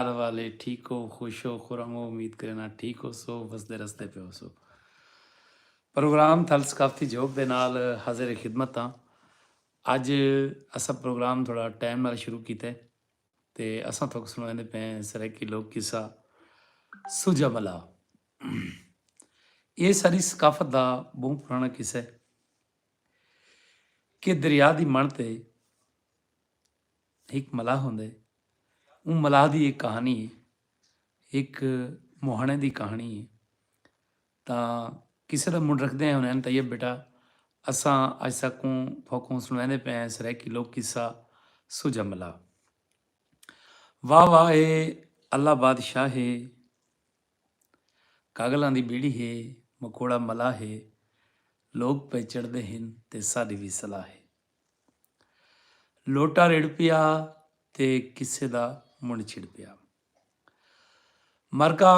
گھر والے ٹھیک ہو خوش ہو خرم ہو امید کرینا ٹھیک ہوسو وسدے رسدے پے ہوسو پروگرام تھل ثقافتی جھوک دے نال حاضر خدمت ہاں اج اساں پروگرام تھوڑا ٹائم نال شروع کیتے تے اساں تھوک سنویندے پے سرائیکی لوک قصہ سوجا ملا اے ساری ثقافت دا بہوں پرانا قصہ ہے کہ دریا دی مݨ تے ہک ملاح ہوندا ہے اوں ملاح دی ہک کہانی ہے ہک موہانے دی کہانی ہے تا کسے دا منڈ رکھدے ہیں انہیں طیب بیٹا اساں اج سکوں پھوکوں سنویندے پے ہیں سرائیکی لوک قصہ سجا ملا واہ واہ ہے اللہ بادشاہ ہے کاگلاں دی بیڑی ہے مکوڑا ملا ہے لوگ پہ چڑھدے ہیں تے ساڈی بھی صلاح ہے لوٹا رڑ پیا تے قصے دا منڈھ چھڑ پیا۔ مرکہ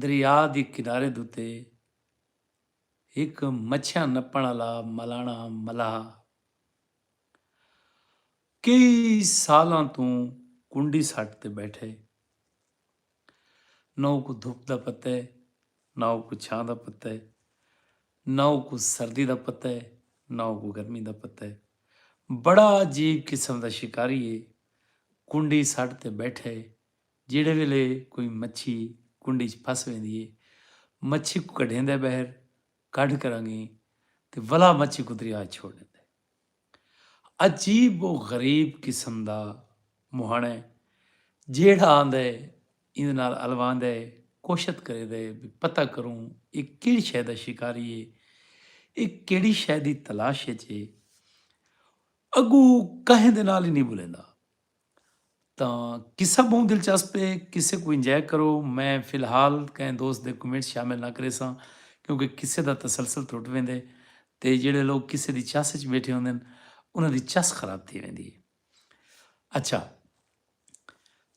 دریا دی کنارے دتے ہک مچھیاں نپنڑ آلا ملانڑا ملاح کئی سالاں توں کنڈی سٹ تے بیٹھے۔ نہ اوکوں دھپ دا پتہ اے نہ اوکوں چھاں دا پتہ اے۔ نہ اوکوں سردی دا پتہ اے نہ اوکوں گرمی دا پتہ اے۔ بڑا عجیب قسم دا شکاری اے۔ کنڈی سٹ تے بیٹھے جیڑھے ویلے کوئی مچھی کنڈی اچ پھس ویندی اے مچھی کوں کڈھیندے بہر کڈھ کرانگیں تے ولا مچھی کوں دریا اچ چھوڑ ڈیندے۔ عجیب و غریب قسم دا مہݨ ہے جیڑھا آندے ایندے نال الواندے کوشت کریدے بھئی پتہ کروں اے کیڑھی شے دا شکاری ہے اے کیڑھی شے دی تلاش اچ ہے اگوں کہیں دے نال ہی نی بلیندا۔ تاں قصہ بہوں دلچسپ ہے قصے کوں انجوائے کرو میں فی الحال کہیں دوست دے کمنٹس شامل نہ کریساں کیونکہ قصے دا تسلسل ٹرٹ ویندے تے جیڑھے لوگ قصے دی چس اچ بیٹھے ہوندن انہاں دی چس خراب تھی ویندی ہے اچھا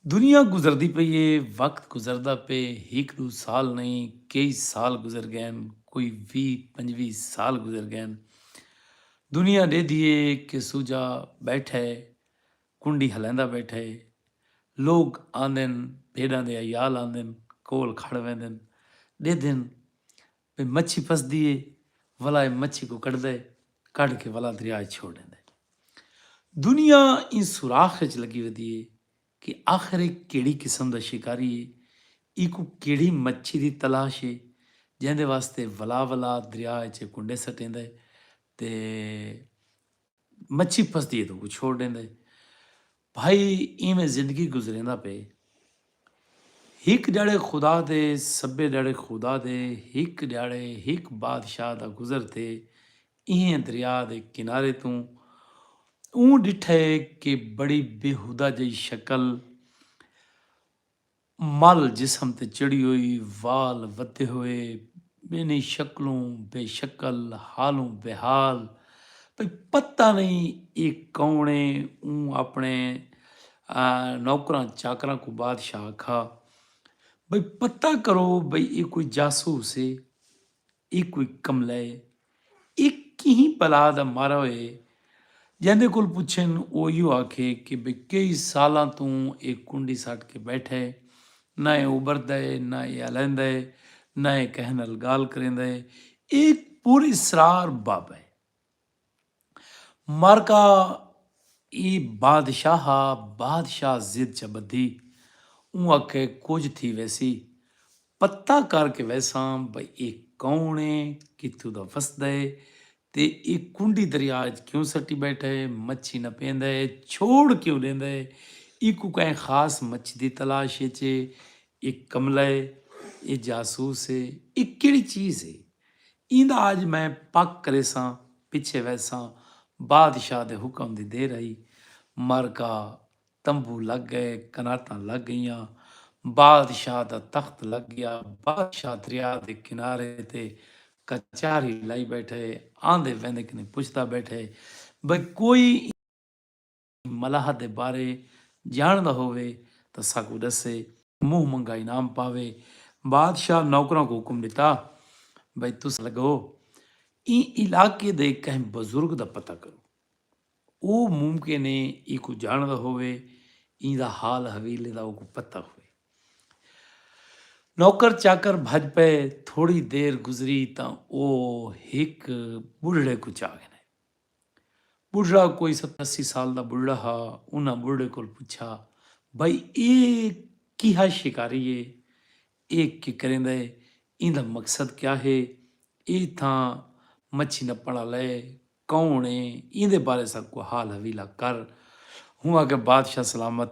دنیا گزردی پئی ہے وقت گزردا پے ہک دو سال نہیں کئی سال گزر گئے کوئی وی پنجوی سال گزر گئے دنیا ڈے دیے کہ سوجا بیٹھے کنڈی ہلیندا ٻیٹھے۔ لوک آندن بھیݙاں دے عیال آندن کول کھڑ ویندن ݙیدھن بھئی مچھی پھسدی اے ولا اے مچھی کوں کڈھدا اے کڈھ کے ولا دریا اچ چھوڑ ݙیندا اے۔ دنیا ایں سوراخ اچ لڳی ودی اے کہ آخر اے کیڑھی قسم دا شکاری اے ایکوں کیڑھی مچھی دی تلاش اے جیندے واسطے ولا ولا دریا اچ اے کنڈے سٹیندا اے تے مچھی پھسدی ہے تاں اوکوں چھوڑ ݙیندا ہے۔ بھائی اینویں زندگی گزریندا پئے۔ ہک ݙیہاڑے خدا دے سبھے ݙیہاڑے خدا دے ہک ݙیہاڑے ہک بادشاہ دا گزر تھئے ایں دریا دے کنارے توں اوں ݙٹھئے کہ بڑی بیہودہ جئی شکل مل جسم تے چڑھی ہوئی، وال ودھے ہوئے، ٻینھیں شکلوں بے شکل، حالوں بے حال، بھئی پتہ نئیں اے کوݨ اے، اوں آپݨے نوکراں چاکراں کوں بادشاہ آکھا، بھئی پتہ کرو بھئی اے کوئی جاسوس اے، اے کوئی کملا اے؟ اے کہیں بلا دا مارا ہوئے؟ جیندے کول پچھن او ایہو آکھے کہ بھئی کئی سالاں توں اے کنڈی سٹ کے بیٹھا اے، نہ اے ابھردا اے، نہ اے الیندا اے، نہ اے کہیں نال گالھ کریندا اے، اے پراسرار بابا اے۔ مرکا ای بادشاہ ہا بادشاہ ضد چا بدھی اوں اکھے کجھ تھی ویسی پتہ کر کے ویساں بھئی اے کون اے کتھوں دا وسدا اے تے اے کنڈی دریا اچ کیوں سٹی بیٹھا اے مچھی نہ پیندا اے چھوڑ کیوں ڈیندا اے ایکوں کہیں خاص مچھی دی تلاش اچ اے اے کملا ہے اے جاسوس ہے اے کیڑی چیز ہے ایندا اج میں پک کریساں پچھے ویساں بادشاہ دے حکم دی دیر ہئی معرکہ تمبو لگ گئے قناتاں لگ گئیاں بادشاہ دا تخت لگ گیا بادشاہ دریا دے کنارے تے کچہری لائی بیٹھے آندے ویندے کنے پچھدا بیٹھے بھئی کوئی ملاح دے بارے جانڑدا ہووے تاں ساکوں ڈسے۔ منہ منگا انعام پاوے۔ بادشاہ نوکراں کوں حکم ڈتا بھئی تساں لگو ایں علاقے دے کہیں بزرگ دا پتہ کرو۔ او ممکن اے اینکوں جانڑدا ہووے۔ ایں دا حال حویلے دا اوکوں پتہ ہووے۔ نوکر چاکر بھج پئے۔ تھوڑی دیر گزری تاں او ہک بڈھڑے کوں چا گھنے۔ ٻڈھڑا کوئی ستر اسی سال دا ٻڈھڑا ہا۔ انہاں ٻڈھڑے کول پچھا بھئی اے کیہا شکاری اے؟ اے کے کریندا اے؟ ایندا مقصد کیا ہے؟ اے اتھاں مچھی نپنڑ آلا اے؟ کون اے؟ ایندے بارے ساکوں حال حویلا کر۔ ہوں آکھیا بادشاہ سلامت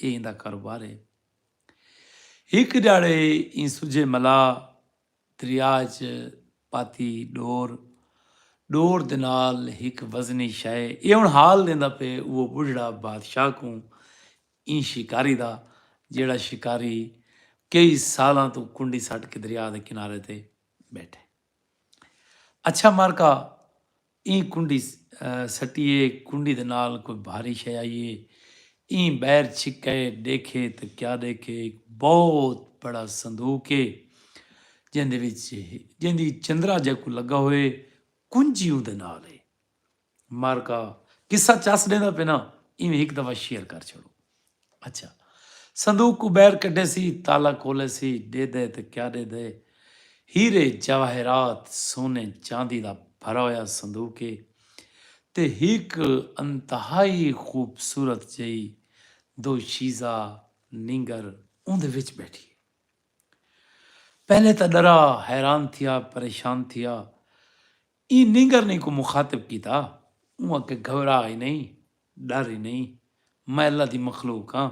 اے ایندا کاروبار ہے۔ ہک ڈھیاڑے ایں سجھے ملا دریا اچ پاتی ڈور۔ ڈور دے نال ہک وزنی شئے۔ اے ہن حال ڈیندا پئے اوہ بڈھڑا بادشاہ کوں ایں شکاری دا جیہڑا شکاری کئی سالاں توں کنڈی سٹ کے دریا دے کنارے تے بیٹھے۔ اچھا مارکا ایں کنڈی سٹی اے کنڈی دے نال کوئی بھاری شے آئی اے ایں بیر چھکے ڈیکھے تے کیا ڈیکھے ایک بہت بڑا صندوق اے جیندے وچ جیندی چندرا جے کو لگا ہوئے کنجی اودے نال اے معرکہ قصہ چس ڈیندا پے نا ایویں ہک دفعہ شیئر کر چھڑو اچھا صندوق کو بیر کڈے سی تالا کولے سی ڈے دے تے کیا ڈے دے ہیرے جواہرات سونے چاندی دا بھرا ہویا صندوق ہے تے ہک انتہائی خوبصورت جئی دو شیزا نینگر اوندے وچ بیٹھی ہے پہلے تا ڈرا حیران تھیا پریشان تھیا ایں نینگرنی کوں مخاطب کیتا اوں آکھیا گھبرا ای نئیں ڈر ای نئیں میں اللہ دی مخلوق ہاں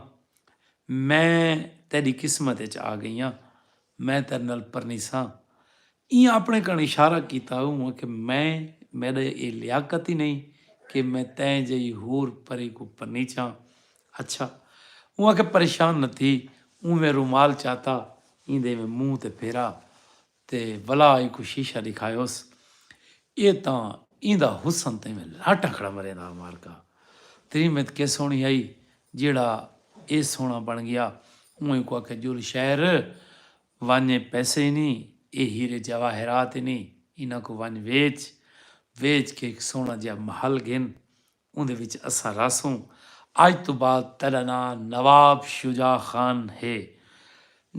میں تیڈی قسمت اچ آگئیاں میں تیڈے نال پرنیساں ایں آپنڑے کنڑ اشارہ کیتا اوں آکھیا میں میڈے اے لیاقت ای نئیں کہ میں تیں جئی حور پری کوں پرنیچاں اچھا اوں آکھیا پریشان نہ تھی اوں میں رومال چاتا ایندے میں منہ تے پھیرا تے ولا اینکوں شیشہ ݙکھایوس اے تاں ایندا حسن تیویں لٹ اکھڑا مرے دا مارکا تریمت کے سوہݨی ہئی جیہڑا اے سوہݨا بݨ ڳیا اوں اینکوں آکھیا جل شہر ونڄ پیسے اینی اے ہیرے جواہرات اینی انہاں کوں ونڄ ویچ ویچ کے ہک سوہݨا جیہا محل گھن اوندے وچ اساں رہسوں۔ اج توں بعد تیڈا ناں نواب شجاع خان ہے۔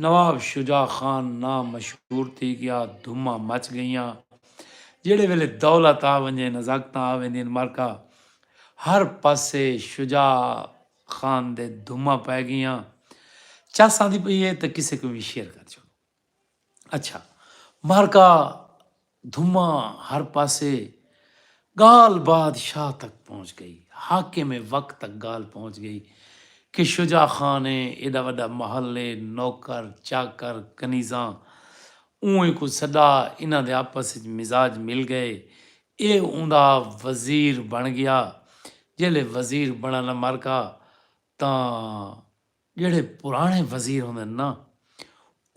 نواب شجاع خان ناں مشہور تھی گیا۔ دھوماں مچ گئیاں۔ جیڑھے ویلے دولت آ ونجے نزاکتاں آ ویندین مرکا ہر پاسے شجاع خان دے دھوماں پئے گئیاں۔ چس آندی پئی ہے تاں کسے کوں وی شیئر کر چھوڑو۔ اچھا معرکہ دھماں ہر پاسے گال باد شاہ تک پہنچ گئی حاکم وقت تک گال پہنچ گئی کہ شجاع خان اے ایڈا وڈا محل اے نوکر چاکر کنیزاں اوں کوں سڈا انہاں دے آپس اچ مزاج مل گئے اے اوندا وزیر بن گیا جیلے وزیر بنڑا نا معرکہ تاں جیڑھے پراݨے وزیر ہوندن نا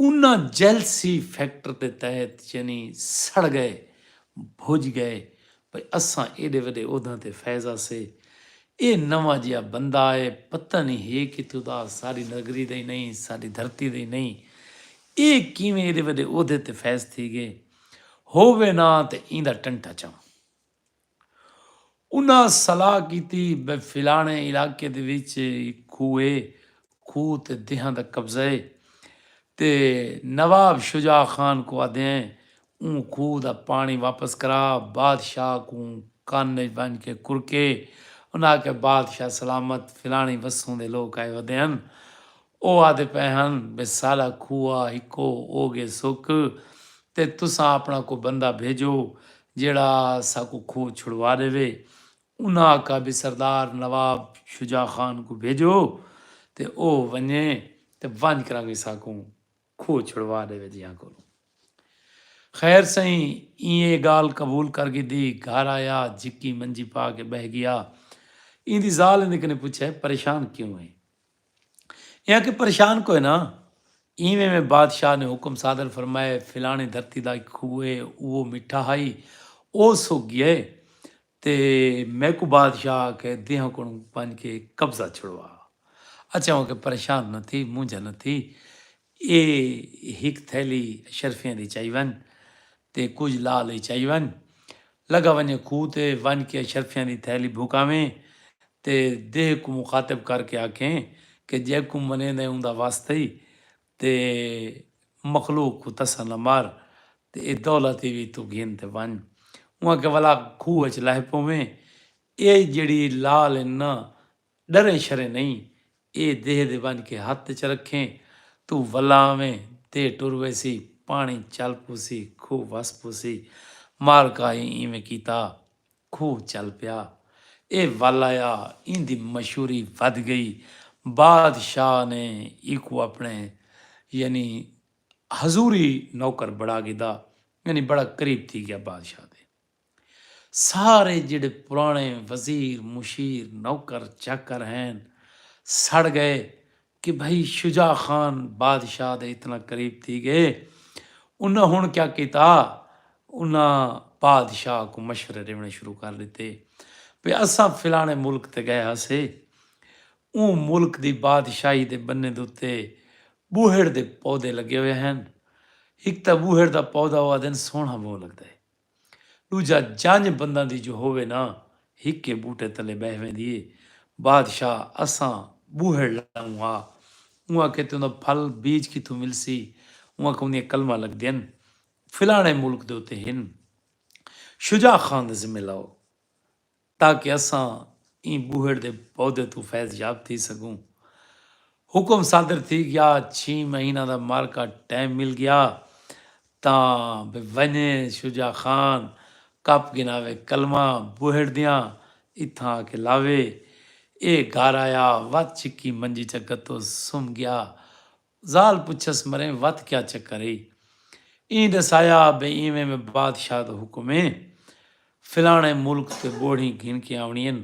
انہاں جیلسی فیکٹر دے تحت یعنی سڑ ڳئے بھڄ ڳئے بھئی اساں ایݙے وݙے عہداں تے فیض ہاسے اے نواں جیہا بندہ اے پتہ نی ہے کتھوں دا ساݙی نگری دا ای نئیں ساݙی دھرتی دا ای نئیں اے کیویں ایݙے وݙے عہدے تے فیض تھی ڳئے ہووے نا تے ایندا ٹنٹا چاں انہاں صلاح کیتی بئے فلانے علاقے دے وچ ہک کھوہ اے، کھوہ تے دیہاں دا قبضہ اے تے نواب شجاع خان کوں آدھیئں اوں کھوہ دا پاݨی واپس کرا بادشاہ کوں کن اچ ونج کے کرکے۔ انہاں آکھیا بادشاہ سلامت فلاݨی وسوں دے لوک آئے ودے ہن او آہدے پئے ہن بھئی ساڈا کھوہ ہکو او گے سک تے تساں اپنا کوئی بندہ بھیجو جیہڑا ساکوں کھوہ چھڑوا ڈیوے۔ انہاں آکھا بھئی سردار نواب شجاع خان کوں بھیجو تے او ونجے تے ونج کرانگے ساکوں کھوہ چھڑوا ڈیوے جیہاں کولوں۔ خیر سئیں ایں اے گالھ قبول کر گھدی، گھر آیا جھکی منجی پا کے بہہ گیا۔ ایندی ذال ایندے کنے پچھے پریشان کیوں اے؟ ایہاں کوں پریشان کوئے نہ اینویں میں بادشاہ نے حکم صادر فرمائے فلاݨی دھرتی دا ہک کھوہ ہے اوہ مٹھا ہئی او سک گیا ہے تے میکوں بادشاہ آکھے دیہاں کوں ونج کے قبضہ چھڑوا اچھا ہو کے پریشان نہ تھی مونجھا نہ تھی اے ہک تھیلی اشرفیاں دی چائی ون تے کجھ لا لئی چائی ون۔ لگا ونجے کھوہ تے ونج کے اشرفیاں دی تھیلی بھکاویں تے دیہہ کوں مخاطب کر کے آکھیں کہ جیکوں منیندیں اوندا وس تھئی تے مخلوق کوں تساں نہ مار تے اے دولت ای وی توں گھن تے ونج۔ اوں آکھیا ولا کھوہ اچ لہہ پوویں۔ اے جیڑھی لال ہن نہ ڈریں شریں نئیں اے دیہہ دے ونج کے ہتھ اچ رکھیں توں ولا آویں دیہہ ٹر ویسی پاݨی چل پوسی کھوہ وس پوسی مال کاہی اینویں کیتا کھوہ چل پیا اے ول آیا ایندی مشہوری ودھ گئی باد شاہ نے ایکوں اپݨے یعنی حضوری نوکر بڑا گھدا یعنی بڑا قریب تھی گیا بادشاہ دے۔ سارے جیڑھے پراݨے وزیر مشیر نوکر چاکر ہین سڑ ڳئے کہ بھئی شجاع خان بادشاہ دے اتنا قریب تھی ڳئے انہاں ہݨ کیا کیتا انہاں بادشاہ کوں مشورے ݙیوݨے شروع کر ݙتے بھئی اساں فلاݨے ملک تے ڳئے ہاسے اوں ملک دی بادشاہی دے ٻنے دے اتے ٻوہڑ دے پودے لڳے ہوئے ہین ہک تاں ٻوہڑ دا پودا او آہدن سوہݨا ٻہوں لڳدا ہے۔ ݙوجھا جنج بنداں دی جو ہووے نا ہکے ٻوٹے تلے ٻہہ ویندی اے۔ بادشاہ اساں ٻوہڑ لائوں ہا۔ اوں آکھے تیوں دا پھل بیج کتھوں ملسی؟ اوں آکھے اوندیاں قلماں لڳدین فلاݨے ملک دے اتے ہن۔ شجاع خان دے ذمے لاؤ۔ تاکہ اساں ایں ٻوہڑ دے پودے توں فیض یاب تھی سڳوں۔ حکم صادر تھی ڳیا، چھی مہیناں دا معرکہ ٹیم مل ڳیا تاں بھئی ونڄے شجاع خان کپ گھناوے کلمہ ٻوہڑ دیاں اتھاں آ کے لاوے۔ ایہ گھر آیا وت چھکی منجی چا گھتو سم ڳیا۔ ذال پچھس مریں وت کیا چکر ای؟ ایں ڈسایا بے ایویں میں بادشاہ دا حکم اے فلانے ملک تے بوہڑیں گھن کے آونڑی ہن۔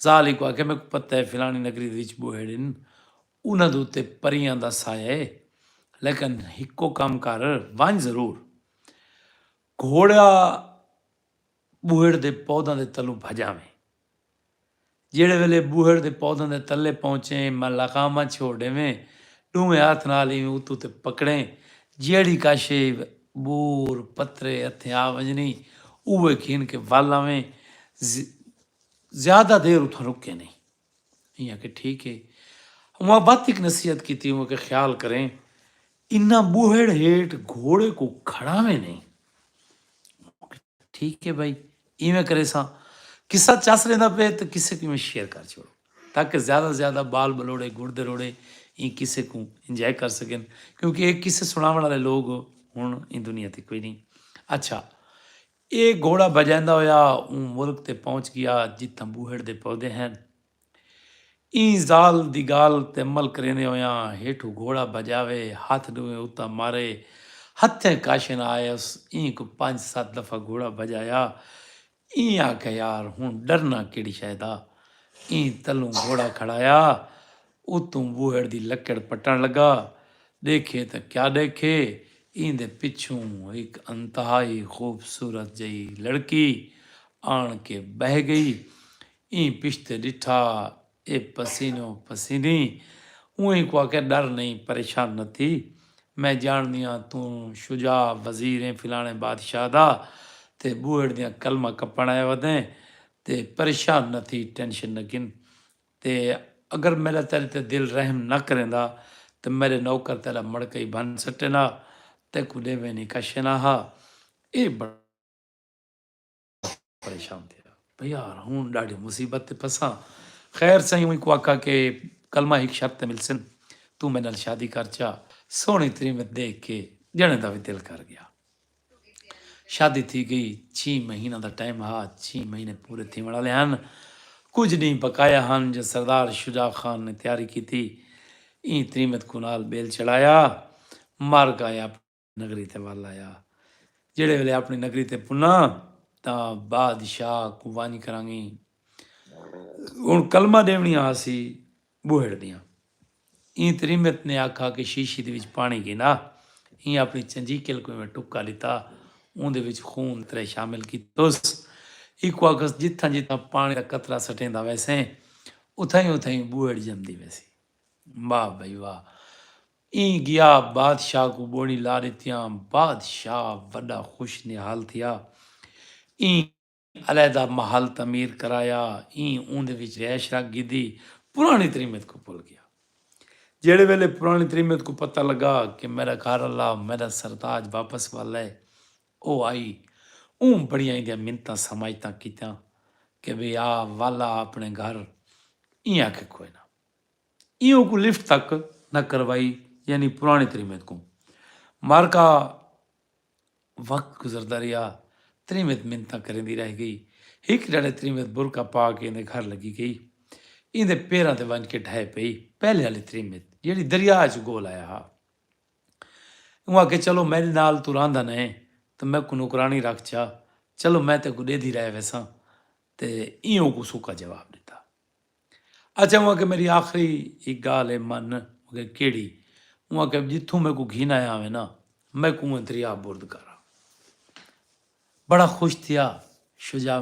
ذال ایکوں آکھیا میکوں پتہ اے فلانی نگری دے وچ بوہڑ ہن انہاں دے اتے پریاں دا سایہ اے لیکن ہکو کم کر ونج ضرور گھوڑا ٻوہڑ دے پوداں دے تلوں بھڄ آویں۔ جیڑھے ویلے ٻوہڑ دے پوداں دے تلے پہنچیں، میں لغاماں چھوڑ ݙیویں، ݙوہیں ہتھ نال ایویں اتوں تے پکڑیں، جیڑھی کا شے، ٻور، پترے، ہتھیں آ ونڄنی، اوہے گھن کے ول آویں، زیادہ دیر اتھاں رکیں نئیں۔ ایں آکھیا ٹھیک ہے۔ اوہاں وت ہک نصیحت کیتی اوہاں آکھیا خیال کریں انہاں ٻوہڑ ہیٹھ گھوڑے کوں کھڑاویں نئیں۔ اوہاں آکھیا ٹھیک ہے بھائی ایویں کریساں۔ قصہ چس رہندا پئے تاں قصے کوں ایویں شیئر کر چھوڑو تاکہ زیادہ توں زیادہ ٻال ٻلوڑے گڑ دے روڑے ایں قصے کوں انجوائے کر سڳن کیونکہ اے قصے سݨاوݨ آلے لوک ہݨ ایں دنیا تے کوئی نئیں۔ اچھا اے گھوڑا بھجیندا ہویا اوں ملک تے پہنچ گیا جتھاں بوہڑ دے پودے ہن۔ ایں ذال دی گال تے عمل کریندے ہویاں ہیٹھوں گھوڑا بھجاوے ہتھ ڈوہیں اتاں مارے ہتھیں کاش نہ آئے اس ایں کوں پنج ست دفعہ گھوڑا بھجایا ایں آکھیا یار ہن ڈرنا کیڑھی شے دا ایں تلوں گھوڑا کھڑایا اتوں ٻوہڑ دی لکڑ پٹݨ لڳا۔ ݙیکھے تاں کیا ݙیکھے ایندے پچھوں ہک انتہائی خوبصورت جئی لڑکی آݨ کے ٻہہ ڳئی۔ ایں پشتے ݙٹھا اے پسینو پسینی اونہی کوں آکھیا ݙر نئیں پریشان نہ تھی میں ڄاݨدیاں توں شجاع وزیر ایں فلاݨے بادشاہ دا تے ٻوہڑ دیاں قلماں کپݨ آیا ودیں تے پریشان نہ تھی ٹینشن نہ گھن تے اگر میݙا تیݙے تے دل رحم نہ کریندا تاں میݙے نوکر تیݙا مڑکئی بھن سٹین ہا، تیکوں ݙیویں نی کشین ہا۔ ایہ بڑا پریشان تھیا۔ بھئی یار ہݨ ݙاڈھی مصیبت تے پھساں۔ خیر سئیں اوں کوں آکھا کہ کلمہ ہک شرط تے ملسن، توں میݙے نال شادی کر چا۔ سوہݨی تریمت ݙیکھ کے ڄݨیں دا وی دل کر ڳیا۔ شادی تھی گئی چھی مہیناں دا ٹائم ہا چھی مہینے پورے تھیوݨ آلے ہن کجھ ݙینہہ بقایا ہن جو سردار شجاع خان نے تیاری کیتی ایں تریمت کوں نال ٻیل چڑھایا مر گائے اپݨی نگری تے ول آیا جیڑھے ویلے اپݨی نگری تے پناں تاں بادشاہ کوں ونڄ کرانگی ہن کلمہ ݙیوݨی ہاسی ٻوہڑ دیاں۔ ایں تے ریمت نے آکھا کہ شیشی دے وچ پاݨی گھن آ۔ ایں اپݨی چنجیکل کوں ایویں ٹکا ݙتا اوندے وچ خون ترے شامل کیتس۔ ایکوں آکھس جتھاں جتھاں پاݨی دا قطرہ سٹیندا ویسیں اتھائیں اتھائیں ٻوہڑ ڄمدی ویسی۔ واہ بھئی واہ۔ ایں گیا بادشاہ کوں ٻوہڑیں لا ݙتیاں۔ بادشاہ وݙا خوش نہال تھیا۔ ایں۔ علیحدہ محل تعمیر کرایا ایں اوندے وچ رہائش رکھ گھدی پرانی تریمت کوں بھل گیا جیڑھے ویلے پرانی تریمت کوں پتہ لگا کہ میڈا گھر آلا میڈا سرتاج واپس ول اے او آئی اوں بڑیاں ایندیاں منتاں سماجتاں کیتیاں کہ وی آ ول آ اپنے گھر ایں آکھے کوئے نہ ایں اوکوں لفٹ تک نہ کروائی یعنی پرانی تریمت کوں مارکا وقت گزردا رہیا۔ تریمت منتاں کریندی رہ گئی۔ ہک ڈھڑے تریمت برقع پا کے ایندے گھر لگی گئی۔ ایندے پیراں تے ونج کے ڈھہہ پئی۔ پہلے آلی تریمت جیڑھی دریا اچ گول آیا ہا۔ اوں آکھیا چلو میڈے نال توں راہندا نہ ایں تاں میکوں نوکرانی رکھ چا۔ چلو میں تیکوں ڈیدھی رہ ویساں۔ تے ایہہ اوکوں سوکھا جواب ڈتا۔ اچھا اوں آکھیا میڈی آخری ہک گالھ ہے من میں آکھیا کیڈی اوں آکھیا جتھوں میکوں گھن آیا ہوویں نا میکوں اونویں دریا برد کر بڑا خوش تھیا شجاع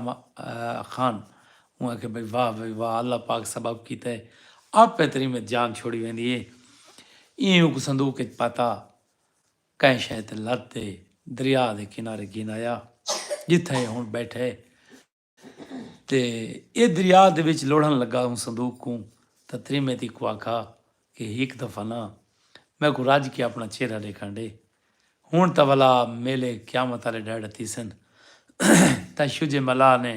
خان اوں آکھیا بھئی واہ بھئی واہ اللہ پاک سبب کیتا ہے آپے تیڈی میں جان چھوڑی ویندی ہے ایں ہک صندوق وچ پاتا کہیں شے تے لد تے دریا دے کنارے گھن آیا جتھاں اے ہن بیٹھا ہے تے ایہ دریا دے وچ لوڑھن لگا اوں صندوق کوں تاں تریمیتی کوں آکھا کہ ہک دفعہ نہ میکوں رج کے اپنا چہرہ ڈیکھن ڈے ہنڑ تاں ولا میلے قیامت آلے ڈہڑے تھیسن تاں شجے ملا نے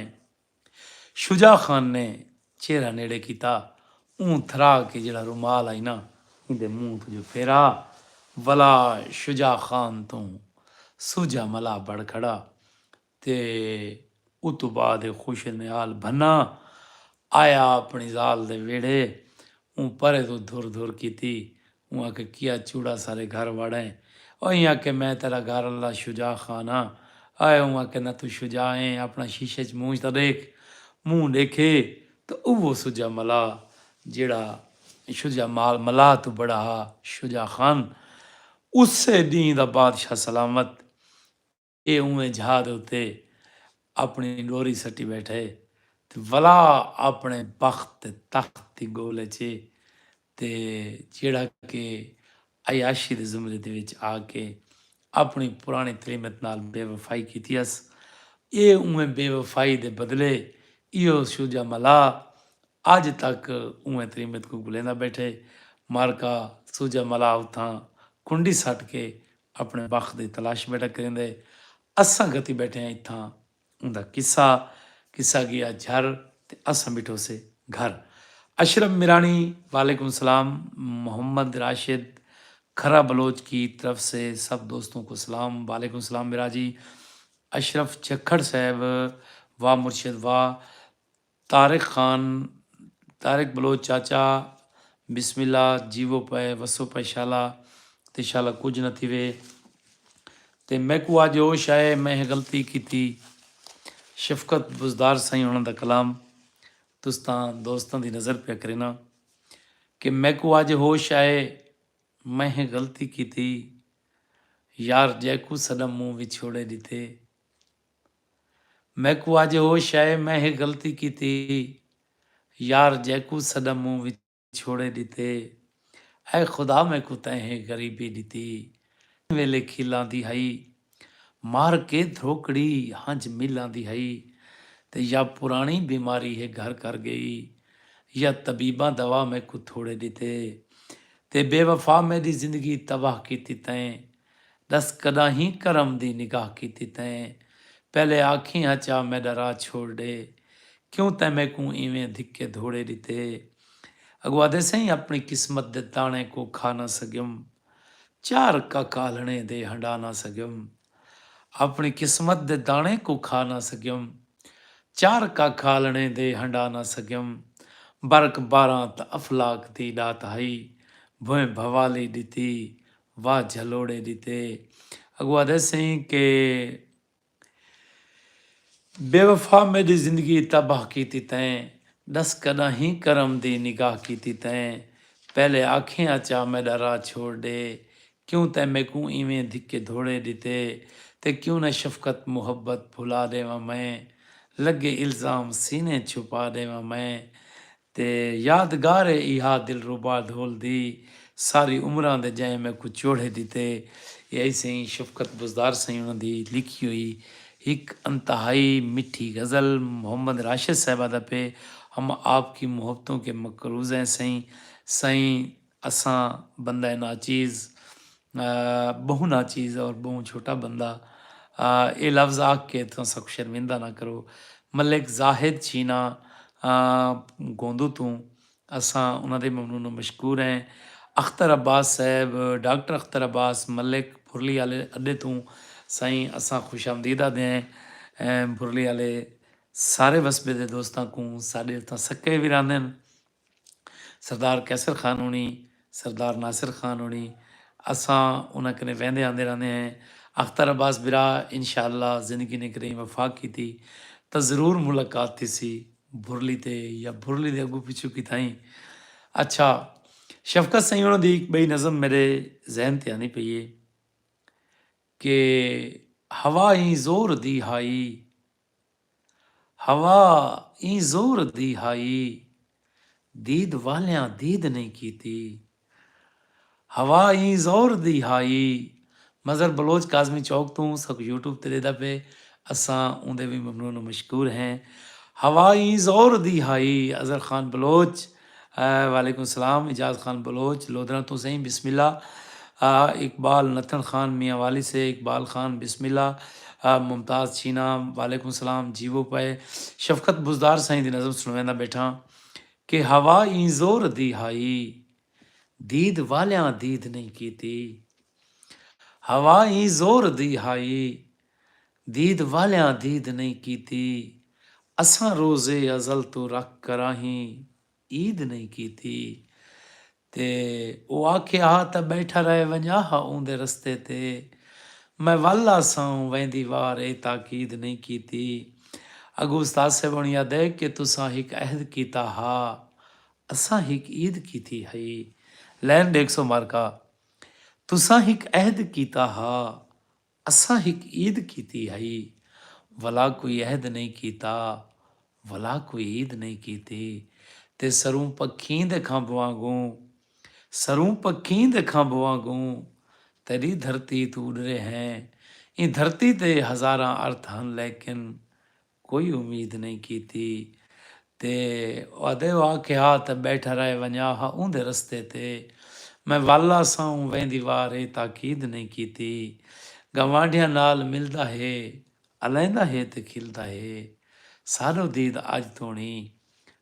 شجاع خان نے چہرہ نیڑے کیتا اوں تھرا کے جیڑھا رومال ہئی نہ ایندے منہ توں جو پھیرا ولا شجاع خان توں سوجھا ملا بڑھ کھڑا تے اتوں بعد اے خوشیں دے نال بھنا آیا اپݨی ذال دے ویڑھے اوں پرے توں دھر دھر کیتی اوں آکھے کیا چوڑا سارے گھر وڑیں ایں آکھے میں تیڈا گھر اللہ شجاع خان ہاں آئے اوں آکھے نہ توں شجاع ایں اپݨا شیشے اچ مونجھ تاں ڈیکھ مونہہ ڈیکھے تاں اوہو سجا ملا جیڑھا شجاع مال ملا توں بڑا ہا شجاع خان اسے ڈینہہ دا بادشاہ سلامت اے اونویں جھا دے اتے اپݨی ݙوری سٹی ٻیٹھا اے تے ولا اپݨے بخت تے تخت دی ڳول اچ اے تے جیڑھا کہ عیاشی دے زمرے دے وچ آ کے اپݨی پراݨی تریمت نال بے وفائی کیتی ہس اے اونویں بے وفائی دے بدلے ایہو شوجا ملا اڄ تک اونویں تریمت کوں گھلیندا ٻیٹھا اے مارکا سوجا ملا اتھاں کنڈی سٹ کے اپݨے بخت دی تلاش ٻیٹھا کریندے اساں گھتی ٻیٹھے ہاں اتھاں اوندا قصہ قصہ ڳیا جھر تے اساں ٻیٹھوسے گھر اشرف میراݨی وعلیکم السلام محمد راشد کھرہ بلوچ کی طرف سے سب دوستوں کو سلام وعلیکم السلام میراجی اشرف جھکھڑ صاحب واہ مرشد واہ طارق خان طارق بلوچ چاچا بسم اللہ جیوو پئے وسو پئے شالا تے شالا کجھ نہ تھیوے تے میکوں اج ہوش آئے میں ہے غلطی کیتی شفقت بزدار سائیں ہونا دا کلام تستاں دوستاں دی نظر پیا کرینا کہ میکوں اج ہوش آئے میں ہے غلطی کیتی یار جیکوں سڈم منہ وچھوڑے ڈیتے میکوں اج ہوش آئے میں ہے غلطی کیتی یار جیکوں سڈم موں وچھوڑے ڈتے اے خدا میکوں تیں ہے غریبی ڈتی کہیں ویلے کھیلاں دی ہئی مار کے دھروکڑی ہنج میلاں دی ہئی تے یا پرانی بیماری ہے گھر کر گئی یا طبیباں دوا میکوں تھوڑے ڈتے تے بے وفا میڈی زندگی تباہ کیتی تیں ݙس کݙاہیں کرم دی نگاہ کیتی تیں؟ پہلے آکھیں ہا چا میݙا راہ چھوڑ ݙے، کیوں تیں میکوں ایویں دھکے دھوڑے ݙتے؟ اڳوں آہدے سئیں اپݨی قسمت دے داݨے کوں کھا نہ سڳیم، چار کک آلݨیں دے ہنڈا نہ سڳیم۔ اپݨی قسمت دے داݨے کوں کھا نہ سڳیم، چار کک آلݨیں دے ہنڈا نہ سڳیم۔ برک باراں تاں افلاک دی ݙات ہئی، بھوئیں بھوالی ݙتی، واہ جھلوڑے ڈتے اگو آدھے سئیں کہ بے وفا میڈی زندگی تباہ کیتی تیں ڈس کڈاہیں کرم دی نگاہ کیتی تیں پہلے آکھیں آچا میڈا راہ چھوڑ ڈے کیوں تیں میکوں ایویں دھکے دھوڑے ڈتے تے کیوں نہ شفقت محبت بھلا ڈیواں میں لگے الزام سینے چھپا ڈیواں میں تے یادگار اے ایہا دلربا ڈھول دی ساری عمراں دے جئیں میکوں چوڑھے ڈتے اے آئی سئیں شفقت بزدار سئیں انہاں دی لکھی ہوئی ہک انتہائی مٹھی غزل محمد راشد صاحبہ دا پے ہم آپ کی محبتوں کے مقروض ہیں سئیں سئیں اساں بندہ ناچیز بہوں ناچیز اور بہوں چھوٹا بندہ اے لفظ آکھ کے توں اساں کوں شرمندہ نہ کرو ملک زاہد چینا گوندو توں اساں انہاں دے ممنون مشکور ہیں اختر عباس صاحب ڈاکٹر اختر عباس ملک بھرلی آلے اڈے توں سائیں اساں خوش آمدید آدھے ہیں بھرلی آلے سارے وسبے دے دوستاں کوں ساڈے اتاں سکے وی راندن۔ سردار قیصر خان ہونی، سردار ناصر خان ہونی اساں انہاں کنے ویندے آندے رہندے ہیں۔ اختر عباس برا انشاءاللہ زندگی نے کدئیں وفاق کیتی تاں ضرور ملاقات تھیسی بھرلی تے یا بھرلی دے اگوں پچھوں کتھائیں۔ اچھا شفقت سئیں انہاں دی ہک بئی نظم میڈے ذہن تے آندی پئی ہے کہ ہوا ایں زور دی ہائی ہوا ایں زور دی ہائی دید والیاں دید نئیں کیتی ہوا ایں زور دی ہائی مظہر بلوچ کاظمی چوک توں ساکوں یوٹیوب تے ݙیہدا پئے اساں اوندے وی ممنون و مشکور ہیں ہوا ایں زور دی ہائی اظہر خان بلوچ وعلیکم سلام اعجاز خان بلوچ لودھراں توں سئیں بسم اللہ آ اقبال نتھن خان میاں والی سے اقبال خان بسم اللہ آ ممتاز چھینا وعلیکم سلام جیوو پئے شفقت بزدار سئیں دی نظم سنویندا بیٹھاں کہ ہوا ایں زور دی ہائی دید والیاں دید نئیں کیتی ہوا ایں زور دی ہائی دید والیاں دید نئیں کیتی۔ اساں روزے ازل توں رکھ کراہیں عید نئیں کیتی۔ تے او آکھے ہا تاں ٻیٹھا رہ ونڄا ہا اوندے رستے تے۔ میں ول آساؤں ویندی وار اے تاکید نئیں کیتی۔ اگوں استاد صاحب ہن یادئ کہ تساں ہک عہد کیتا ہا۔ اساں ہک عید کیتی ہئی۔ لین ݙیکھسو مارکا۔ تساں ہک عہد کیتا ہا۔ اساں ہک عید کیتی ہئی ولا کوئی عہد نئیں کیتا ولا کوئی عید نئیں کیتی تے سروں پکھیں دے کھمب وانگوں سروں پکھیں دے کھمب وانگوں تیڈی دھرتی توں اڈرے ہیں ایں دھرتی دے ہزاراں ارتھ ہن لیکن کوئی امید نئیں کیتی تے وعدے و آکھے ہا تاں بیٹھا رہ ونجا ہا اوندے رستے تے میں ول آساں ویندی وار اے تاکید نئیں کیتی گنواڈھیاں نال ملدا ہے الیندا ہے تے کھلدا ہے ساڈو دید اج توڑیں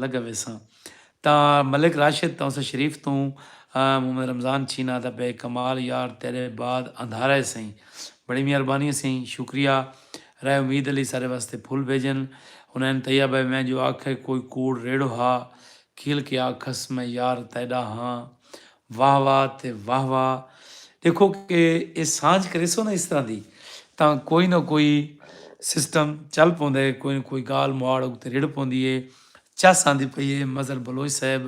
لگا ویساں تاں ملک راشد تاں اس شریف توں محمد رمضان چھینا دا بے کمال یار تیڈے بعد اندھارا ہے سئیں بڑی مہربانی ہے سئیں شکریہ رائے امید علی سارے واسطے پھل بھیجن ہنین طیب ہے میں جو آکھے کوئی کوڑ ریڑو ہا کھیل کے آکھس میں یار تیڈا ہاں واہ واہ تے واہ واہ ڈیکھو کہ اے سانجھ کریسو نا اس طرح دی تاں کوئی نہ کوئی سسٹم چل پوندا ہے کوئی نہ کوئی گال مواڑ اتے رڑھ پوندی ہے چس آندی پئی ہے مظہر بلوچ صاحب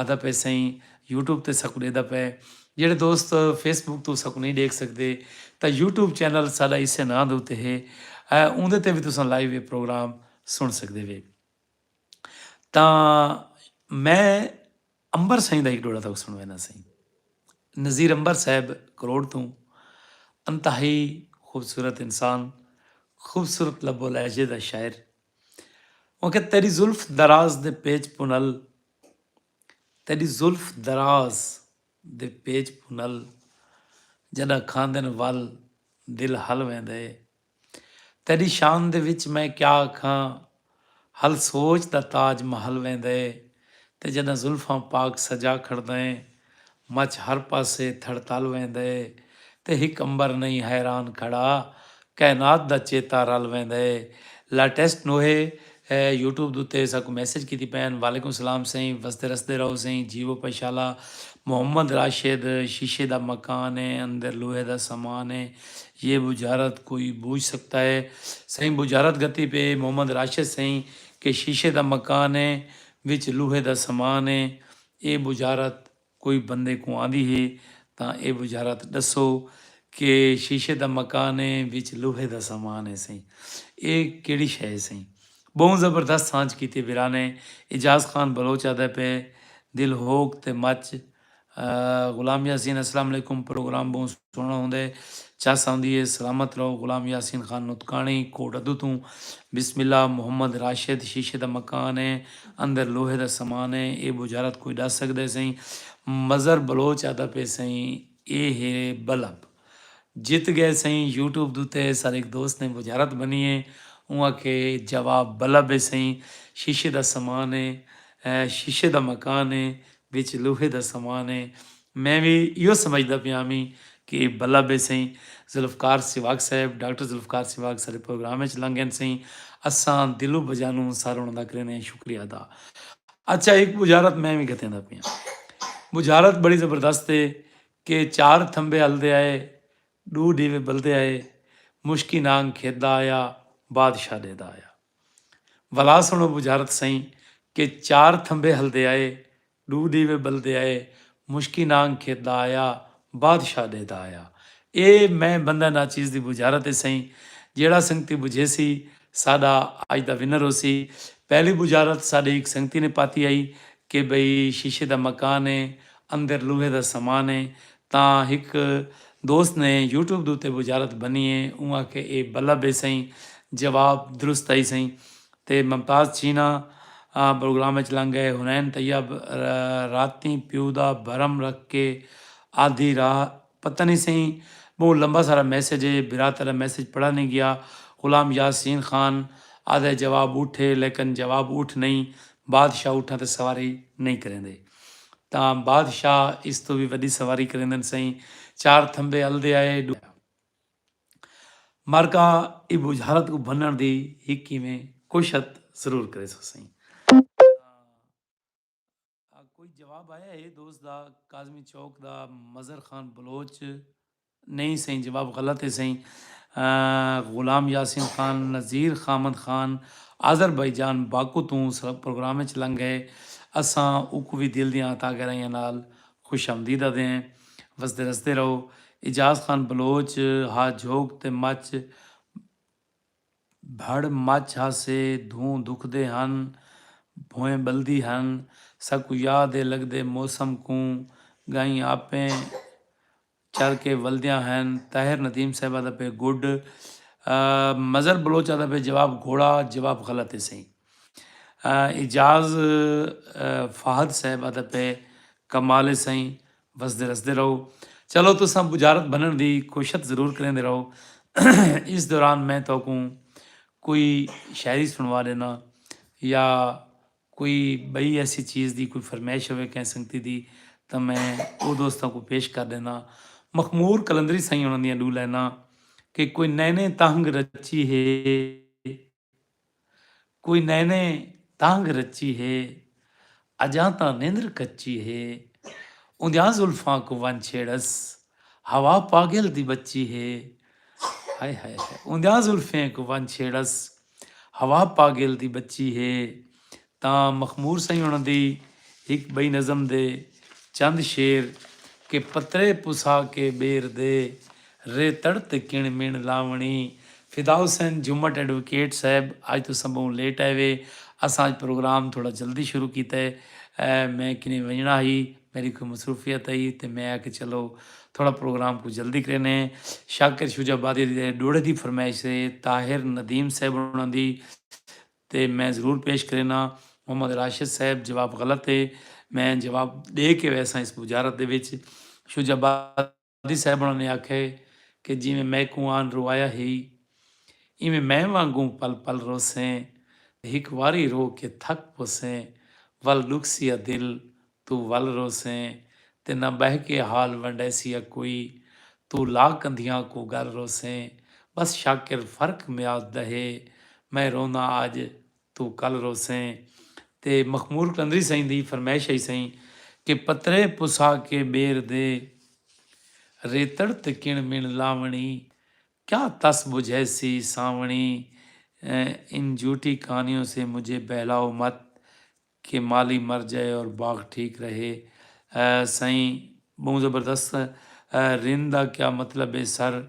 آدا پئے سئیں یوٹیوب تے ساکوں ڈیدا پئے جیڑھے دوست فیس بک توں ساکوں نہیں ڈیکھ سکدے تاں یوٹیوب چینل ساڈا اسے ناں دے اتے ہے اوندے تے وی تساں لائیو اے پروگرام سن سکدے وے تاں میں امبر سئیں دا ہک ڈوہڑا تہاکوں سنڑوینداں سئیں۔ نذیر امبر صاحب کروڑ توں انتہائی خوبصورت انسان، خوبصورت لب و لہجے دا شاعر۔ اوں آکھیا تیڈی زلف دراز دے پیچ پنل تیڈی زلف دراز دے پیچ پنل جڈاں کھاندن ول دل ہل ویندے۔ تیݙی شان دے وچ میں کیا آکھاں ہل سوچ دا تاج محل ویندے تے جݙاں زلفاں پاک سجا کھڑدیں مچھ ہر پاسے تھڑ تل ویندے تے ہک عنبر نئیں حیران کھڑا کائنات دا چیتا رل ویندے لیٹسٹ نوحے اے یوٹیوب دے اتے اساکوں میسج کیتی پئے ہن۔ وعلیکم سلام سئیں وسدے رسدے رہو سئیں جیوو پشالا محمد راشد شیشے دا مکان اے اندر لوہے دا سامان اے یہ بجارت کوئی بوجھ سکتا ہے سئیں بجارت گھتی پئے محمد راشد سئیں کہ شیشے دا مکان اے وچ لوہے دا سامان اے اے بجارت کوئی بندے کوں آندی ہے تاں اے وزارت ڈسو کہ شیشے دا مکان ہے وچ لوہے دا سامان ہے سئیں اے کیڑی شے ہے سئیں بہوں زبردست سانجھ کیتی ویران ہے اعجاز خان بلوچ آدھے پے دل ہوک تے مچ غلام یاسین اسلام علیکم پروگرام بہوں سنڑݨ ہوندے چس آندی اے سلامت رہو غلام یاسین خان نطقانی کوٹ ادو توں بسم اللہ محمد راشد شیشے دا مکان اے اندر لوہے دا سامان اے اے بجھارت کوئی ڈس سگدے سئیں مظہر بلوچ آدا پے سئیں اے ہے بلب جت گئے سئیں یوٹیوب دوتے سر ہک دوست نے بجھارت بنی اے اوں آکھے جواب بلب اے سئیں شیشے دا سامان اے شیشے دا مکان اے وچ لوہے دا سامان اے۔ میں وی ایہو سمجھدا پیاں وی کہ بھلا بے سئیں ذوالفقار سیواگ صاحب ڈاکٹر ذوالفقار سیواگ ساڈے پروگرام اچ لنگ گن سئیں اساں دلو بجانو سر انہاں دا کریندے ہیں شکریہ ادا۔ اچھا ہک بجارت میں وی گھتیندا پیاں۔ بجارت بڑی زبردست اے کہ چار تھمبے ہلدے آئے ڈو ڈیوے بلدے آئے مشکی نانگ کھیت دا آیا بادشاہ ڈے دا آیا۔ ولا سنڑو بجھارت سئیں کہ چار تھمبے ہلدے آئے ڈو ڈیوے بلدے آئے مشکی نانگ کھیت دا آیا بادشاہ ڈے دا آیا اے میں بندہ ناچیز دی بجھارت اے سئیں جیڑا سنگتی بجھیسی ساڈا اج دا ونر ہوسی پہلی بجھارت ساڈے ہک سنگتی نے پاتی ہئی کہ بھئی شیشے دا مکان اے اندر لوہے دا سامان اے تاں ہک دوست نے یوٹیوب دے اتے بجارت بنی ہے اوں آکھے اے بلب ہے سئیں جواب درست ہئی سئیں تے ممتاز چینا بروگرام اچ لنگ گئے حنین طیب راتیں پیو دا بھرم رکھ کے آدھی راہ پتہ نی سئیں بہوں لمبا سارا میسج ہے بھرا تیڈا میسج پڑھا نی گیا غلام یاسین خان آدھے جواب اٹھ ہے لیکن جواب اٹھ نئیں بادشاہ اٹھاں تے سواری نئیں کریندے۔ تاں بادشاہ اس توں وی وݙی سواری کریندن سئیں چار تھمبے الدے آئے ݙو مرکاں ایں ٻجھارت کوں بھنݨ دی ہک کیویں کوشت ضرور کریسوں سئیں تاں کوئی جواب آیا ہے دوست دا کاظمی چوک دا مظہر خان بلوچ نئیں سئیں جواب غلط ہے سئیں غلام یاسین خان نذیر خامد خان آذربائیجان باکو توں پروگرام اچ لنگ گئے اساں اوکوں وی دل دیاں عطا گہرائیاں نال خوش آمدید آدھیں وسدے رسدے رہو اعجاز خان بلوچ ہا جھوک تے مچ بھڑ مچ ہا سے دھوں دھکدے ہن بھوئیں بلدی ہن ساکوں یاد ہے لگدے موسم کوں گائیں آپیں چل کے ولدیاں ہن طاہر ندیم صاحبہ دا پے گڈ مظہر بلوچ آدھا پے جواب گھوڑا جواب غلط ہے سہی اعجاز فہد صاحب آدھا پے کمال ہے سہی وسدے رسدے رہو چلو تو سب بجارت بنن دی کوشت ضرور کریں دے رہو اس دوران میں تو کوں کوئی شاعری سنوا دینا یا کوئی بئی ایسی چیز دی کوئی فرمیش ہوے کہیں سنگتی دی تاں میں او دوستاں کوں پیش کر ڈینداں۔ مخمور قلندری سائیں ہوݨاں دیاں ڈو لائناں کہ کوئی نئنیں تہنگ رچی ہے کوئی نئنیں تہنگ رچی ہے اجاں تاں نندر کچی ہے اوندیاں زلفاں کوں ونج چھیڑس ہوا پاگل دی بچی ہے ہائے ہائے ہائے اوندیاں زلفیں کوں ونج چھیڑس ہوا پاگل دی بچی ہے تاں مخمور سئیں ہوݨاں دی ہک ٻئی نظم دے چند شعر کہ پترے پسا کے ٻیر دے رے تڑ تے کݨ مݨ لاوݨی۔ فدا حسین جھمٹ ایڈووکیٹ صاحب اڄ تساں ٻہوں لیٹ آئے وے اساں اڄ پروگرام تھوڑا جلدی شروع کیتے میں کنیں ونڄݨا ہئی۔ میݙی کوئی مصروفیت ہئی تے میں آکھیا چلو تھوڑا پروگرام کوں جلدی کریندے ہیں۔ شاکر شجاع آبادی دے ݙوہڑے دی فرمائش تے طاہر ندیم صاحب ہوݨاں دی تے میں ضرور پیش کرینداں۔ محمد راشد صاحب جواب غلط ہے۔ میں جواب ݙے کے ویساں اس بجارت دے وچ۔ شجاع آبادی۔ دادی صاحبݨاں نے آکھئے کہ جیویں میکوں آن روایا ہئی ایویں میں وانگوں پل پل روسیں تے ہک واری رو کے تھک پوسیں ول ݙکھسی آ دل توں ول روسیں تے نہ ٻہہ کے حال ونڈیسی آ کوئی توں لا کندھیاں کوں ڳل روسیں بس شاکر فرق میات دا ہے میں روندا آڄ توں کل روسیں تے مخمور قلندری سئیں دی فرمائش ہئی سئیں کہ پترے پسا کے ٻیر دے ریتڑ تے کݨ مݨ لاوݨی کیا تس ٻجھیسی سانوݨی ان جھوٹی کہانیوں سے مجھے بہلاؤ مت کہ مالی مر جائے اور باغ ٹھیک رہے سئیں ٻہوں زبردست رند دا کیا مطلب ہے سر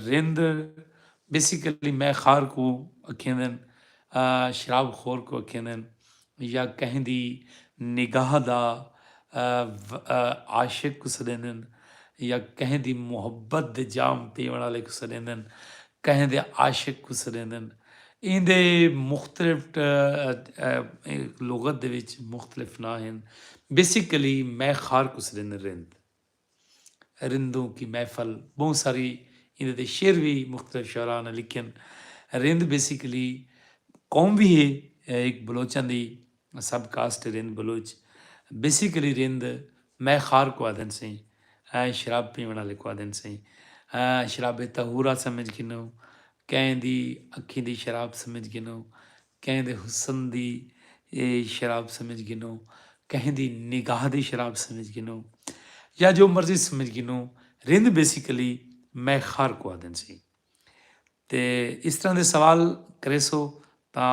رند بیسیکلی مئے خار کوں اکھیندن شراب خور کوں اکھیندن یا کہیں دی نگاہ دا عاشق کوں سڈیندن یا کہیں دی محبت دے جام پیوݨ آلے کوں سڈیندن کہیں دے عاشق کوں سڈیندن ایندے مختلف لغت دے وچ مختلف ناں ہن بیسیکلی مئے خار کوں سڈیندن رند۔ رندوں کی محفل بہوں ساری ایندے تے شعر وی مختلف شعراء نے لکھن رند بیسیکلی قوم وی ہے ہک بلوچاں دی سب کاسٹ ہے رند بلوچ بیسیکلی رند مئے خار کو آدھن سے شراب پیون والے کو آدھن سے شراب طہورا سمجھ گھنو کہیں دی اکھیں دی شراب سمجھ گھنو کہیں دے حسن دی شراب سمجھ گھنو کہیں دی نگاہ دی شراب سمجھ گھنو یا جو مرضی سمجھ گھنو رند بیسیکلی میں خار کو آدن سی تے اس طرح دے سوال کریسو تا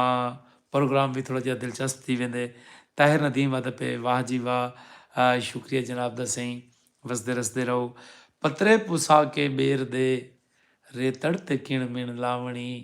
پروگرام بھی تھوڑا جہا دلچسپ تھی ویندے طاہر ندیم آدھا پہ واہ جی واہ شکریہ جناب دا سائیں وسدے رسدے رہو پترے پسا کے بیر دے ریتڑ تے کن من لاونی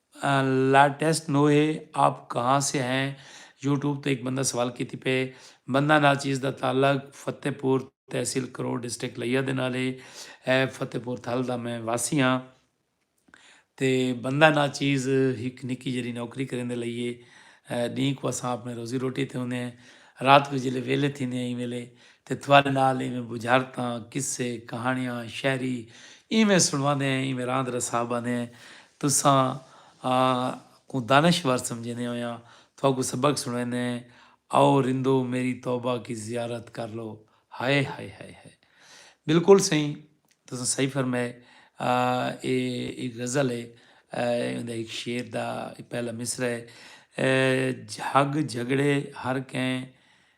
لائٹسٹ نو ہے آپ کہاں سے ہیں یوٹیوب تے ہک بندہ سوال کیتی پئے بندہ ناچیز دا تعلق فتح پور تحصیل کروڑ ڈسٹرکٹ لیا دے نال ہے اے فتح پور تھل دا میں واسی ہاں تے بندہ ناچیز ہک نکی جیری نوکری کریندے لئی ہے ڈینہہ کو اساں اپنے روزی روٹی تے ہوندے ہیں رات کو جلے ویلے تھیندے ہیں ایں ویلے تے تہاݙے نال ایویں ٻجھارتاں، قصے، کہاݨیاں، شاعری ایویں سݨواندے ہیں، ایویں راند رسا ٻہندے ہیں، تساں آ کوں دانشور سمجھیندے ہوئیاں تہاکوں سبق سݨویندے ہیں، آؤ رندو میری توبہ کی زیارت کر لو۔ ہائے ہائے ہائے ہائے۔ بالکل سئیں تساں صحیح فرمائے۔ اے ہک غزل ہے۔ ایندے ہک شعر دا پہلا مصرعہ ہے۔ جھگ جھڳڑے ہر کئیں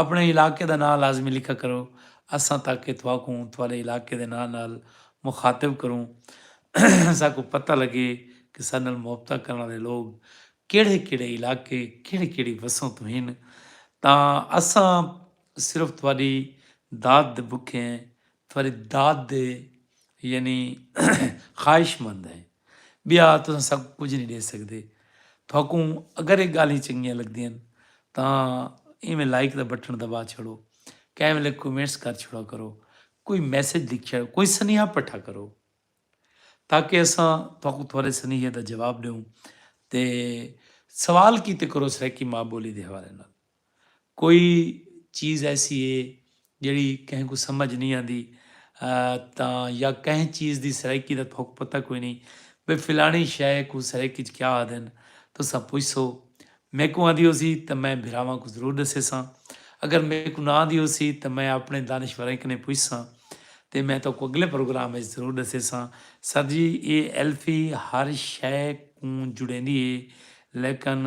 اپݨے علاقے دا ناں لازمی لکھا کرو اساں تاکہ تہاکوں تہاݙے علاقے دے ناں نال مخاطب کروں ساکوں پتہ لڳے کہ ساݙے نال محبتاں کرݨ آلے لوگ کیڑھے کیڑھے علاقے کیڑھی کیڑھی وسوں توں ہن تاں اساں صرف تہاݙی داد دے بکھے ہیں فریداد دے یعنی خواہش مند ہیں بیا تساں ساکوں کجھ نہیں ڈے سکدے تھاکوں اگر یہ گالیں چنگیاں لگدیاں تاں ایویں لائک دا بٹن دبا چھڑو کہیں ویلے کومنٹس کر چھڑا کرو کوئی میسج لکھ چھڑو کوئی سنیہا پٹھا کرو تاکہ اساں تھاکوں تھوڑے سنیہے دا جواب ڈیوں تے سوال کیتے کرو سرائیکی ماں بولی دے حوالے نال کوئی چیز ایسی ہے جیڑھی کہیں کوں سمجھ نئیں آندی تاں یا کہیں چیز دی سرائیکی دا تہاکوں پتہ کوئی نئیں بھئی فلاݨی شئے کوں سرائیکی اچ کیا آہدن تساں پچھسو میکوں آندی ہوسی تاں میں بھراواں کوں ضرور ݙسیساں اگر میکوں نہ آندی ہوسی تاں میں آپݨے دانشوریں کنیں پچھساں تے میں تہاکوں اڳلے پروگرام اچ ضرور ݙسیساں۔ سر جی ایہ ایلفی ہر شئے کوں جڑیندی ہے لیکن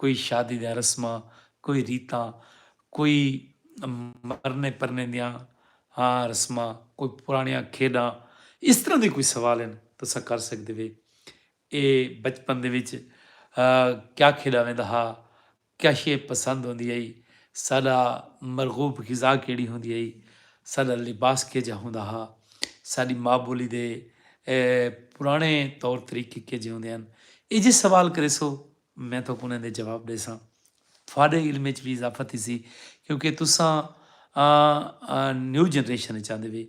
کوئی شادی دیاں رسماں، کوئی ریتاں، کوئی مرنے پرنے دیاں رسماں، کوئی پرانڑیاں کھیڈاں اس طرح دے کوئی سوال ہن تساں کر سکدے وے۔ اے بچپن دے وچ کیا کھیڈا ویندا ہا، کیا شے پسند ہوندی ہئی، ساڈا مرغوب غذا کیڑی ہوندی ہئی، ساڈا لباس کیجھا ہوندا ہا، ساڈی ماء بولی دے پرانڑے طور طریقے کیجھے ہوندے ہن۔ اے جے سوال کریسو میں تہاکوں انہاں دے جواب ݙیساں۔ تہاݙے علم وچ وی اضافہ تھیسی کیونکہ تساں نیو جنریشن وچ آندے وے۔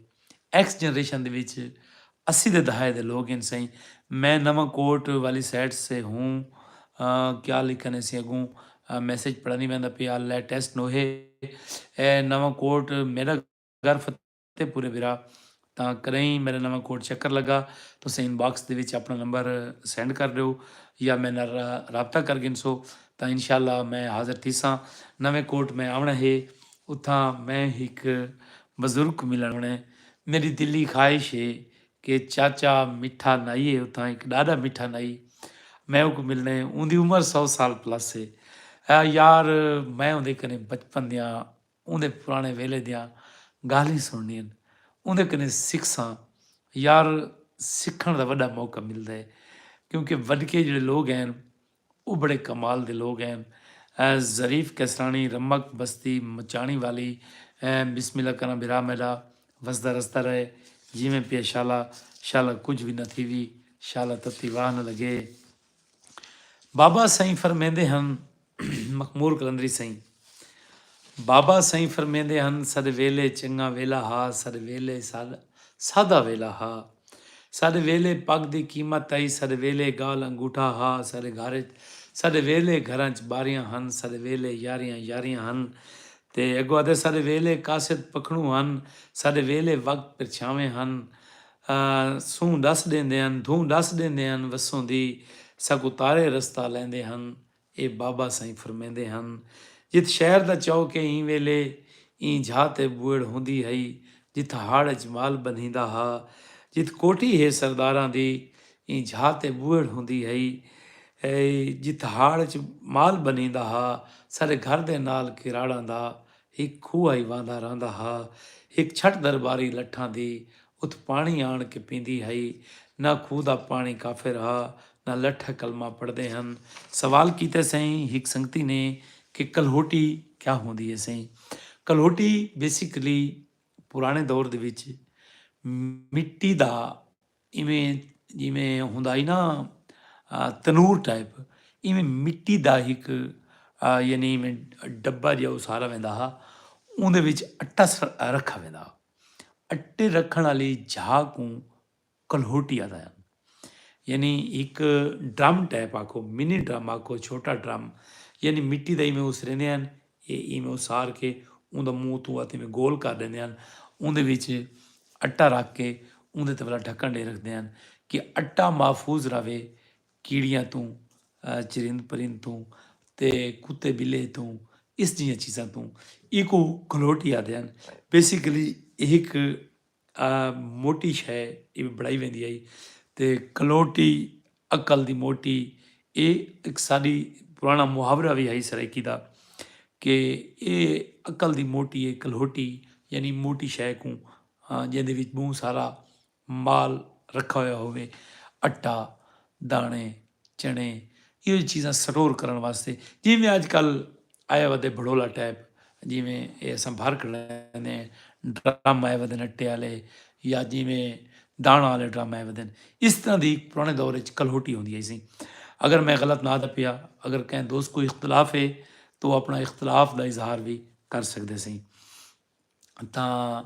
ایکس جنریشن دے وچ اسی دے دہائے دے لوگ ہن سئیں۔ میں نواں کوٹ والی سائیڈ سے ہوں۔ کیا لکھن ہے سی اگوں میسج پڑھا نہیں ویندا پیا لیٹسٹ نوہے۔ نواں کوٹ میڈا گھر فتح۔ تے پورے بھرا تاں کدئیں میڈا نواں کوٹ چکر لگا تساں ان باکس دے وچ اپنا نمبر سینڈ کر ڈیو یا میڈے نال رابطہ کر گھنسو تاں انشاءاللہ میں حاضر تھیساں نویں کوٹ میں آونڑاں ہے اتھاں میں ہک بزرگ کوں ملن آونڑاں ہے میڈی دلی خواہش ہے کہ چاچا مٹھا نائی ہے اتھاں ہک ڈاڈا مٹھا نائی میں اوکوں ملنڑاں ہے اوندی عمر سو سال پلس ہے یار میں اوندے کنے بچپن دیاں اوندے پراݨے ویلے دیاں ڳالھیں سݨݨیاں اوندے کنیں سکھساں یار سکھݨ دا وݙا موقع ملدا ہے کیونکہ وݙکے جیڑھے لوگ ہین او بڑے کمال دے لوگ ہین ظریف کیسراݨی رمک بستی مچاݨی والی بسم اللہ کراں بھرا میݙا وسدا رسدا رہے جیویں پیا شالا شالا کجھ وی نہ تھیوی شالا تتی واہ نہ لڳے بابا سئیں فرمیندے ہن مخمور قلندری سئیں بابا سئیں فرمیندے ہن ساڈے ویلے چنگا ویلا ہا ساڈے ویلے سادہ ویلا ہا ساڈے ویلے پگ دی قیمت ہئی ساڈے ویلے گال انگوٹھا ہا ساڈے گھر اچ ساڈے ویلے گھراں اچ باریاں ہن ساڈے ویلے یاریاں یاریاں ہن تے اگو آدھے ساڈے ویلے قاصد پکھنوں ہن ساڈے ویلے وقت پرچھاویں ہن سوں ڈس ڈیندے ہن دھوں ڈس ڈیندے ہن وسوں دی ساکوں تارے رستہ لیندے ہن۔ اے بابا سئیں فرمیندے ہن۔ جت شہر دا چوک اے ایں ویلے ایں جھا تے بوئڑ ہوندی ہئی جت ہاڑ اچ مال بنھیندا ہا۔ جت کوٹھی ہے سرداراں دی ایں جھا تے بوئڑ ہوندی ہئی جت ہاڑ اچ مال بنھیندا ہا سارے گھر دے نال کراڑاں دا ہک کھوہ ای وہندا رہندا ہا۔ ہک چھٹ درباری لٹھاں دی اتھ پاݨی آݨ کے پیندی ہئی۔ نہ کھوہ دا پاݨی کافر ہا نہ لٹھ کلمہ پڑھدے ہن۔ سوال کیتے سئیں ہک سنگتی نے کہ کلہوٹی کیا ہوندی ہے سئیں؟ کلہوٹی بیسیکلی پراݨے دور دے وچ مٹی دا ایویں جیویں ہوندا ہی نا تنور ٹائپ ایویں مٹی دا ہک یعنی ایویں ڈبا جہا اسارا ویندا ہا اوندے وچ اٹا رکھا ویندا ہا اٹے رکھن والی جھا کوں کلہوٹی آتا ہے یعنی ایک ڈرم ٹائپ آکھو منی ڈرم آکھو چھوٹا ڈرم یعنی مٹی دا ایویں اس رہندے ہیں اے اینویں اسار کے اوندا منہ اتوں آتے میں گول کر ڈیندے ہن اوندے وچ اٹا رکھ کے اوندے تے ولا ڈھکن ڈے رکھدے ہن کہ اٹا محفوظ رہوے کیڑیاں توں چرند پرند توں تے کتے بلے توں اس جیاں چیزاں توں ایکو گھلوٹی آدے ہن بیسیکلی ایک اے موٹی شے ایویں بنڑائی ویندی ہئی تے کلوٹی عقل دی موٹی اے ہک ساڈی پرانا محاورہ وی ہئی سرائیکی دا کہ اے عقل دی موٹی اے کلوٹی یعنی موٹی شے کوں جیندے وچ بہوں سارا مال رکھا ہویا ہووے اٹا دانے چنے ایہو جیہی چیزاں سٹور کرݨ واسطے جیویں اج کل اے ودے بھڑولا ٹائپ جیویں اے اساں بھر کھڑیندے ہیں ڈرم اے ودے نٹے آلے یا جیویں دانا آلے ڈرم اے ودے اس طرح دی پرانے دور وچ کلہوٹی ہوندی ہئی سی اگر میں غلط نہ دا پیا اگر کہیں دوست کوئی اختلاف ہے تو اپنا اختلاف دا اظہار بھی کر سکدے سی۔ تاں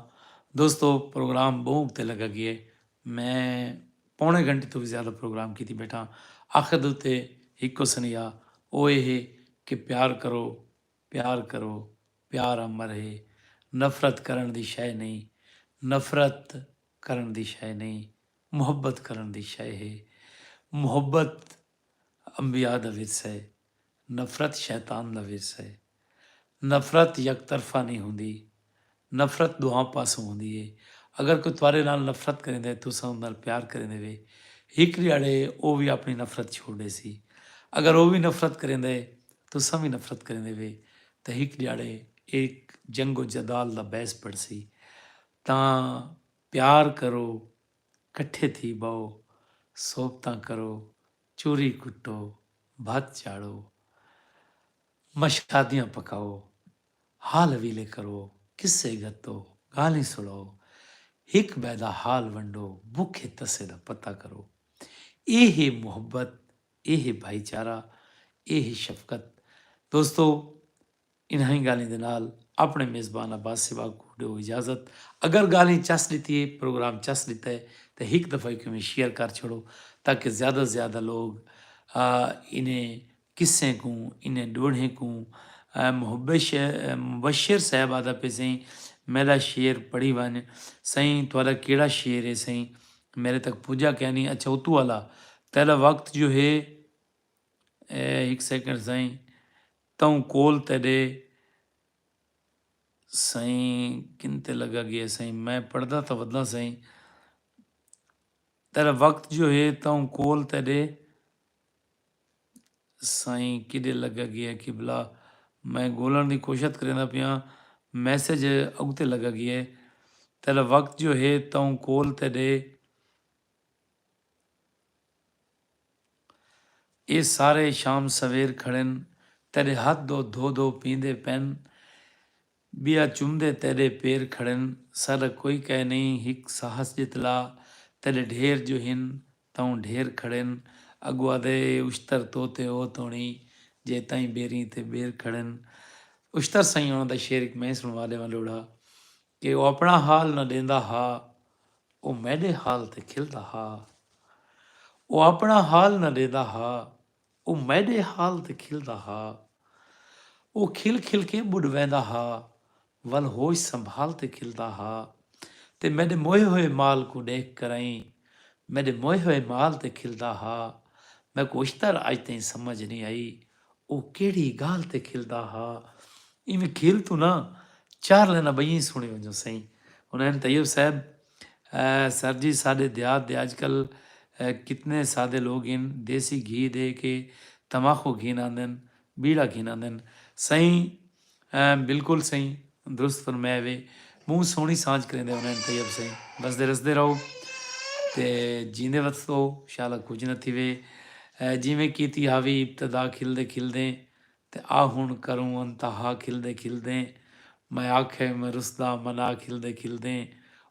دوستو پروگرام بہوں اگتے لگا گیے میں پونے گھنٹے تو وی زیادہ پروگرام کیتی بیٹھاں آخر دے اتے ہکو سنیہا او اے ہے کہ پیار کرو پیار کرو پیار امر ہے نفرت کرݨ دی شئے نئیں نفرت کرݨ دی شئے نئیں محبت کرݨ دی شئے ہے محبت انبیاء دا ورثہ ہے نفرت شیطان دا ورثہ ہے۔ نفرت یک طرفہ نئیں ہوندی۔ نفرت ݙوہاں پاسوں ہوندی ہے۔ اگر کوئی تہاݙے نال نفرت کریندا ہے تساں اوندے نال پیار کریندے وے ہک ݙیہاڑے او وی آپݨی نفرت چھوڑ ݙیسی۔ اگر او وی نفرت کریندا ہے تساں وی نفرت کریندے وے تاں ہک ݙیہاڑے اے ہک جنگ و جدال دا بحث بݨسی۔ تاں پیار کرو، کٹھے تھی ٻہو، صحبتاں کرو۔ چوری کٹو، بھت چاڑھو، مشادیاں پکاؤ، حال حویلے کرو، قصے گھتو، گالھیں سڑاؤ، ہک بئے دا حال ونڈو، بکھے تسے دا پتہ کرو۔ اے ہے محبت، اے ہے بھائی چارہ، اے ہے شفقت۔ دوستو! انہائیں گالھیں دے نال اپنڑے میزبان عباس سباگ کوں ڈیو اجازت اگر گالھیں چس ڈتی ہے پروگرام چس ڈتا ہے تاں ہک دفعہ کیوں میں شیئر کر چھڑو تاکہ زیادہ توں زیادہ لوگ انہیں قصیں کوں انہیں ڈوہڑیں کوں محب مبشر صاحب آدھا پے سئیں میڈا شعر پڑھی ونج سئیں تہاڈا کیڈا شعر ہے سئیں میڈے تک پجا کینی اچھا اتو والا تہاڈا وقت جو ہے ہک سیکنڈ سئیں توں کول تیڈے سئیں کن تے لگا گئے سئیں میں پڑھدا تاں وداں سئیں تیڈا وقت جو ہے توں کول تیڈے سئیں کیڈے لگا گئے قبلہ میں گولن دی کوشت کریندا پیاں میسج اگتے لگا گئے تیڈا وقت جو ہے توں کول تیڈے۔ اے سارے شام سویر کھڑن تیڈے ہتھ دو دھو دھو پیندے پین بیا چمدے تیڈے پیر کھڑن ساڈا کوئی کہہ نہیں ہک ساہس جتلا تیڈے ڈھیر جو ہن تاؤں ڈھیر کھڑن اگو آدھے اے اشتر تو تے او توڑی جے تائیں بیریں تے بیر کھڑن اشتر سائیں انہاں دا شعر ہک میں سنوا ڈیواں لوڑھا کہ او اپݨا حال نہ ݙیندا ہا او میݙے حال تے کھلدا ہا او اپݨا حال نہ ݙیندا ہا او میݙے حال تے کھلدا ہا او کھل کھل کے ٻݙ ویندا ہا ول ہوش سنبھال تے کھلدا ہا تے میݙے موئے ہوئے مال کوں ݙیکھ کرئیں میݙے موئے ہوئے مال تے کھلدا ہا میکوں اشتر اڄ تئیں سمجھ نی آئی او کیڑھی گالھ تے کھلدا ہا۔ ایویں کھل توں نہ چار لائناں بئیاں ای سنڑی ونجو سئیں۔ حنین طیب صاحب، سر جی ساڈے دیہات دے اج کل کتنے سادے لوگ ہن دیسی گھی دے کے تماخو گھن آندن، بیڑا گھن آندن۔ سئیں بلکل سئیں درست فرمایا وی بہوں سوہنی سانجھ کریندے ہوندے ہن طیب سئیں وسدے رسدے رہو تے جیندے وتسو شالا کچھ نہ تھیوے جیویں کیتی ہاوی ابتدا کھل دے کھل دیں تے آ ہن کروں انتہا کھل دے کھل دیں میں آکھے میں رسدا منا کھل دے کھل دیں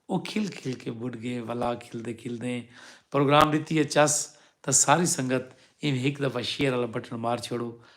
او کھل کھل کے بڈھ گئے ولا کھل دے کھل دیں پروگرام ڈتی اے چس تاں ساری سنگت ایویں ہک دفعہ شیئر والا بٹن مار چھوڑو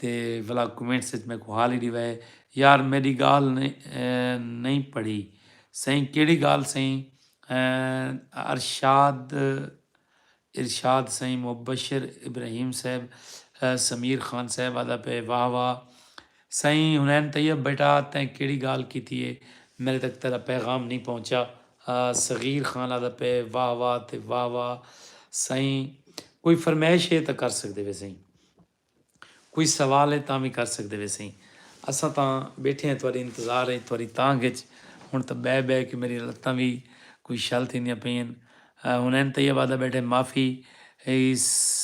تے ولا کمنٹس اچ میکوں حال ہی ڈیوے یار میڈی گال نئیں پڑھی سئیں کیڑی گال سئیں ارشاد ارشاد سئیں مبشر ابراہیم صاحب سمیر خان صاحب آدا پئے واہ واہ سئیں حنین طیب بیٹا تیں کیڑی گال کیتی اے میڈے تک تیڈا پیغام نئیں پہنچا صغیر خان آدا پئے واہ واہ تے واہ واہ سئیں کوئی فرمیش اے تاں کر سکدے وے سئیں۔ کوئی سوال ہے تاں وی کر سگدے ویسئیں۔ اساں تاں بیٹھے ہیں تہاڈی انتظار اچ تہاڈی تانگھ اچ۔ ہنڑ تاں بہہ بہہ کے میڈیاں لتاں وی کوئی شل تھیندیاں پئین۔ حنین طیب آہدا بیٹھے معافی ہئی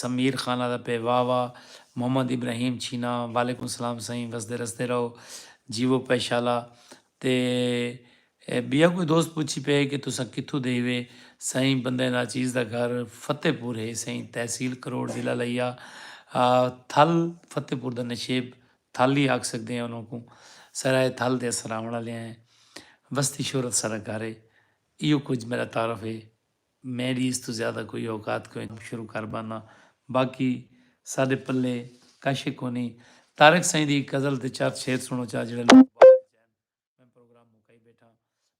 سمیر خان آہدا پئے واہ واہ محمد ابراہیم چھینا وعلیکم سلام سئیں وسدے رسدے رہو جیوو پئے شالا تے ٻیا کوئی دوست پچھی پئے کہ تساں کتھوں دے ہیوے؟ سئیں بندہ ناچیز دا گھر فتح پور ہے سئیں تحصیل کروڑ ضلع لئیا تھل فتح پور دا نشیب تھل ہی آکھ سکدے ہیں انہاں کوں سرائے تھل دے اساں راہونڑ آلیاں ہیں وستی شہرت ساڈا گھر ہے ایہو کجھ میڈا تعارف ہے۔ میڈی اس توں زیادہ کوئی اوقات کوئنی۔ اب شروع کر باننا باقی ساڈے پلے کش ء کونی۔ طارق سائیں دی ہک غزل تے چار شعر سنڑو چا جیڑھے لوک واہ تے چین۔ میں پروگرام مکائی بیٹھاں۔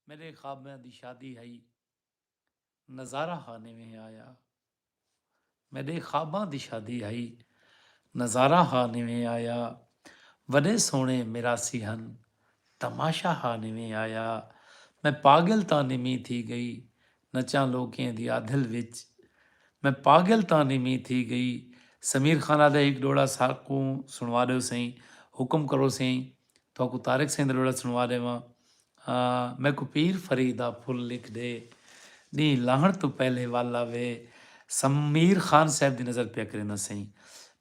میڈے خوابیاں دی شادی ہئی۔ نظارہ ہا نویں آیا۔ میڈے خواباں دی شادی ہئی۔ نظارہ ہا نویں آیا۔ وڈے سوہنے میراثی ہن۔ تماشہ ہا نویں آیا۔ میں پاگل تاں نویں تھی گئی۔ نچاں لوکیں دی آدھل وچ۔ میں پاگل تاں نویں تھی گئی۔ سمیر خان آدھے ہک ڈوہڑا ساکوں سنوا ڈیو سئیں۔ حکم کرو سئیں۔ تہاکوں طارق سئیں دا ڈوہڑا سنوا ڈیواں۔ میکوں پیر فرید دا پھل لکھ ڈے۔ ڈینہہ لاہنڑ توں پہلے ول آوے۔ سمیر خان صاحب دی نظر پیا کرینداں سئیں۔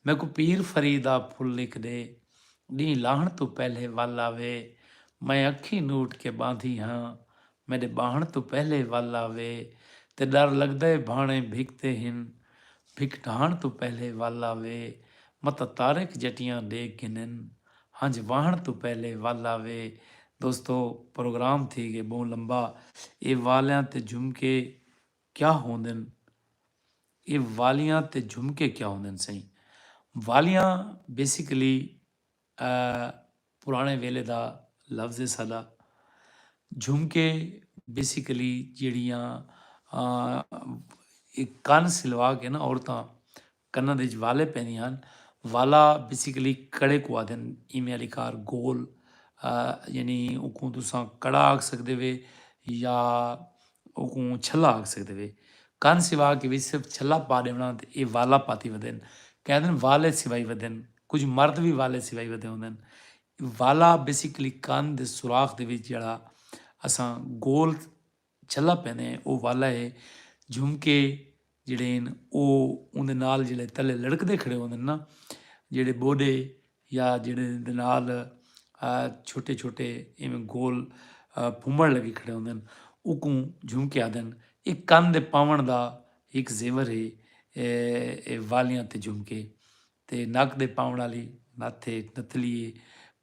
میکوں پیر فرید دا پھل لکھ ڈے۔ ڈینہہ لاہنڑ توں پہلے ول آوے۔ میں اکھیں نوٹ کے باندھی ہاں۔ میڈے باہنڑ توں پہلے ول آوے۔ تے ڈر لگدا اے بھانڑیں بھکتے ہن۔ بھک ڈھانڑ توں پہلے ول آوے۔ متاں طارق جٹیاں ڈیکھ گھنن۔ ہنج واہنڑ توں پہلے ول آوے۔ دوستو پروگرام تھی گئے بہوں لمبا۔ اے والیاں تے جھمکے کیا ہوندن؟ اے والیاں تے جھمکے کیا ہوندن سئیں؟ والیاں بیسیکلی پرانے ویلے دا لفظ ہے ساڈا۔ جھمکے بیسیکلی جیڑیاں کن سلوا کے نا عورتاں کناں دے اچ والے پیندے ہن۔ والا بیسیکلی کڑے کوں آہدن ایویں آلی کار گول یعنی اوکوں تساں کڑا آکھ سکدے وے یا اوکوں چھلا آکھ سکدے وے۔ کن سوا کہ وچ صرف چھلا پا ݙیوݨا تے ایہ والا پاتی ودن۔ کہیں آہدن والے سوائی ودن۔ کجھ مرد وی والے سوائی ودے ہوندن۔ والا بیسیکلی کن دے سوراخ دے وچ جیڑھا اساں گول جھلا پیندے او والا ہے جھمکے جیڑھے ہن او اوندے نال جیڑھے تلے لڑکدے کھڑے ہوندن نا جیڑھے بوڈے یا جیڑھے دے نال چھوٹے چھوٹے ایویں گول پھمڑ لگے کھڑے ہوندن اوکوں جھمکے آدن اے کن دے پاون دا ایک زیور ہے اے والیاں تے جھمکے تے نک دے پاون والی نتھ ہے نتھلی ہے۔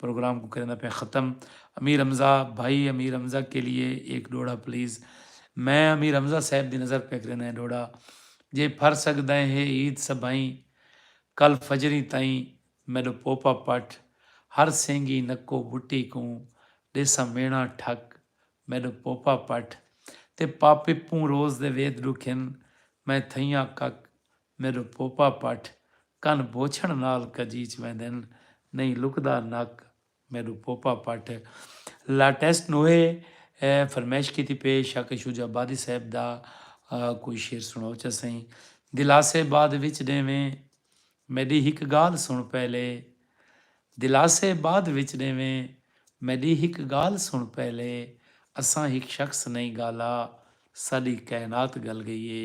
پروگرام کوں کریندا پیاں ختم امیر حمزہ بھائی امیر حمزہ کے لیے ایک ڈوڑھا پلیز میں امیر حمزہ صاحب دی نظر پیا کریندا ہیں ڈوڑھا جے پھر سگدیں ہے عید سبھائیں کل فجریں تائیں میڈو پوپا پٹھ ہر سینگی نکو بٹی کوں ڈیساں مینا ٹھک میڈو پوپا پٹھ تے پاپپوں روز دے وید ڈکھن میں تھئیاں کک میݙو پوپا پٹھ، کن بوچھݨ نال کجیچ ویندن، نئیں لکدا نک، میݙو پوپا پٹھ۔ لاٹیسٹ نوہے فرمائش کیتی پئے شاکر شجاع آبادی صاحب دا کوئی شعر سݨاؤ چا سئیں، دلاسے بعد وچ ݙیویں، میݙی ہک ڳالھ سݨ پہلے، دلاسے بعد وچ ݙیویں، میݙی ہک ڳالھ سݨ پہلے، اساں ہک شخص نئیں ڳالا، ساݙی کائنات ڳل ڳئی اے،